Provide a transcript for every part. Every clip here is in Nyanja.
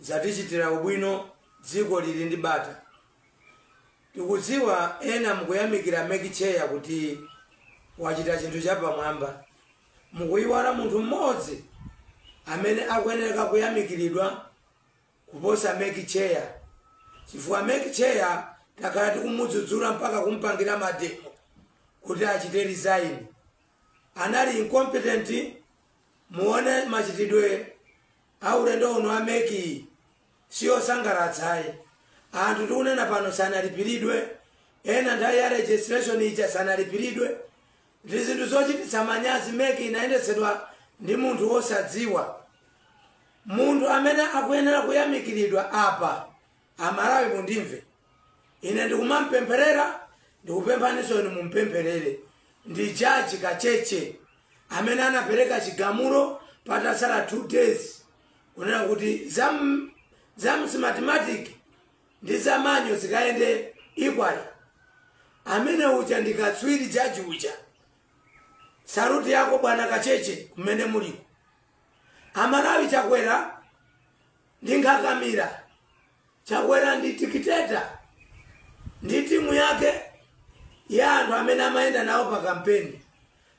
Zatichitira ubwino dziko lili ndi bata. Tikudziwa ena mukuyamikira mec chair kuti wachita chinthu chapamwamba. Mukuyiwala munthu mmodzi amene akuyenera kuyamikiridwa kuposa mec chair chifukwa mec chair takhala tikumudzudzula mpaka kumpangira mademo kuti achite resign. Anali incompetent muwone machitidwe a ulendo uno wa mec iyi siosangalatsa ayi anthu tikunena pano sanalipiridwe ena nthawi ya registration ija sanalipiridwe ndi zinthu zochititsa manyazi mec inayendetsedwa ndi munthu wosadziwa munthu amene akuyenera kuyamikiridwa apa amalawi mundimve ine ndikumampempherera ndikupemphaninso inu mumpempherere ndi jaji kacheche amene anapereka chigamulo patatsala two days kunena kuti za m- za smartmatic ndi za manual zikayende equally amene uja ndikatswiri jaji uja saluti yako bwana kacheche kumene muliko amalawi chakwera ndi nkhakamira Chakwera ndi dictator ndi timu yake ya anthu amene amayenda nawo pa kampeni.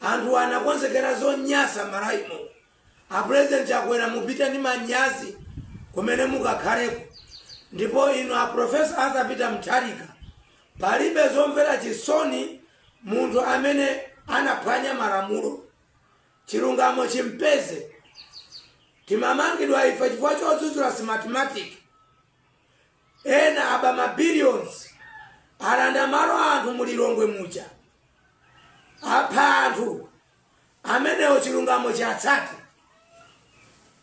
Anthu anakonzekera zonyasa Malawi muno. A President Chakwera mupite ndi manyazi kumene mukakhaleko. Ndipo inu a Professor Arthur Peter Mutharika palibe zomvera chisoni munthu amene anaphwanya malamulo. Chilungamo chimpeze. Timamangidwa ife chifukwa chodzudzula smartmatic. Ena aba ma billions. Alanda malo a anthu mu Lilongwe muja. Apha anthu. Amenewo chilungamo chiwatsate.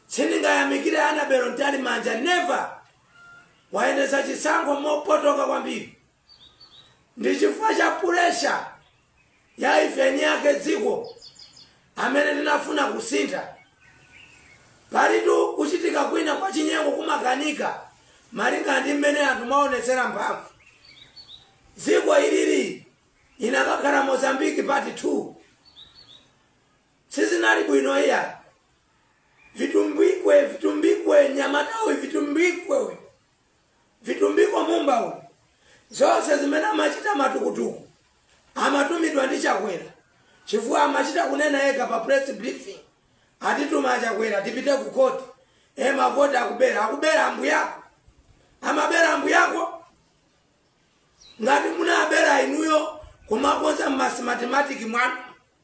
Sindingayamikire Annabel Mtalimanja never. Wayendetsa chisankho mopotoka kwambiri. ndi chifukwa cha pulesha ya ife eni ake dziko amene tinafuna kusintha palitu kuchitika kwina kwa chinyengo kumakanika malinga ndi mmene anthu mwaonetsera mphamvu dziko ilili likanakhala mozambiki part 2 sizinali bwino iya vitumbikwe vitumbikwe nyamatawi vitumbikwe vitumbiko mumba uyu zonse zimene amachita matukutuku amatumidwa ndi chakwera chifukwa amachita kunena yekha pa press briefing atituma achakwera tipite ku koti e mavoti akubera akubera ambuyako amabera ambuyako ngati munabera inuyo kumakonza m'ma smartmatic mwanu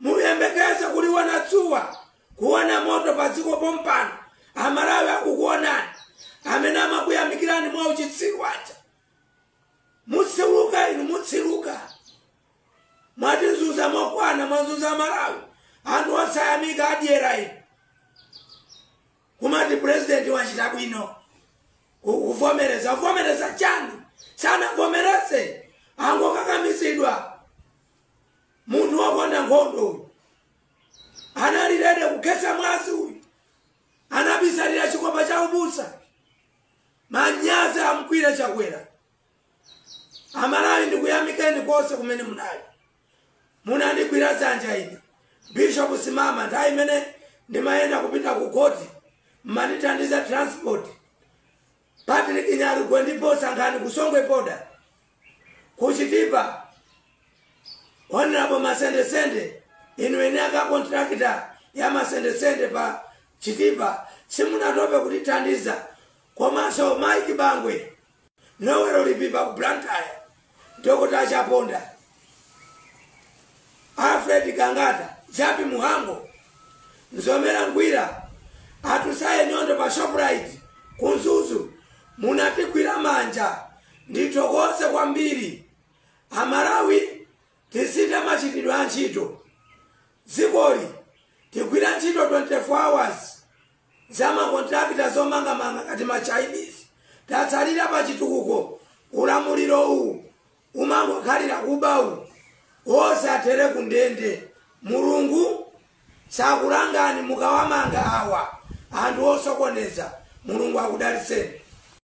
muyembekeze kuliona dzuwa kuona moto pa dziko pompano amalawi akukuonani amene amakuyamikirani mwa uchitsiru waja mutsiruka inu mutsiruka mwatizunza mokwana mwazunza amalawi anthu osayamika adyera inu kumati purezidenti wachita bwino ku- kuvomereza kuvomereza chani sanavomereze angokakamizidwa Munthu wokonda nkhondo uyu anali rede kukhetsa mwazi uyu, anabisalira chikopa cha ubusa. Manyazi amgwire Chakwera. Amalawi ndikuyamikeni konse kumene munali, munandigwira dzanja ine Bishop Simama nthawi imene ndimayenda kupita ku koti, mmandithandiza transport. Patrick Nyalugwe ndi Paul Sankhani ku Songwe Boda, ku Chitipa, Honorable Masendesende, inu eni ake kontrakita ya Masendesende pa Chitipa simunatope kutithandiza, komanso Mike Bangwe, Noel Lipipa ku Blantyre, Dr Chaponda, Alfred Gangata, Jappie Mhango, Mzomera Ngwira, Atusaye Nyondo pa Shoprite ku Mzuzu, munatigwira manja ndithokoze kwambiri. Amalawi tisinthe machitidwe a ntchito. Dzikoli tigwira ntchito 24 hours za ma contractor zomangamanga ngati ma Chinese tatsalira pa chitukuko ulamuliro uwu umangokhalira kuba uwu onse athere ku ndende mulungu sakulangani mukawamanga awa anthu osokoneza mulungu akudalitseni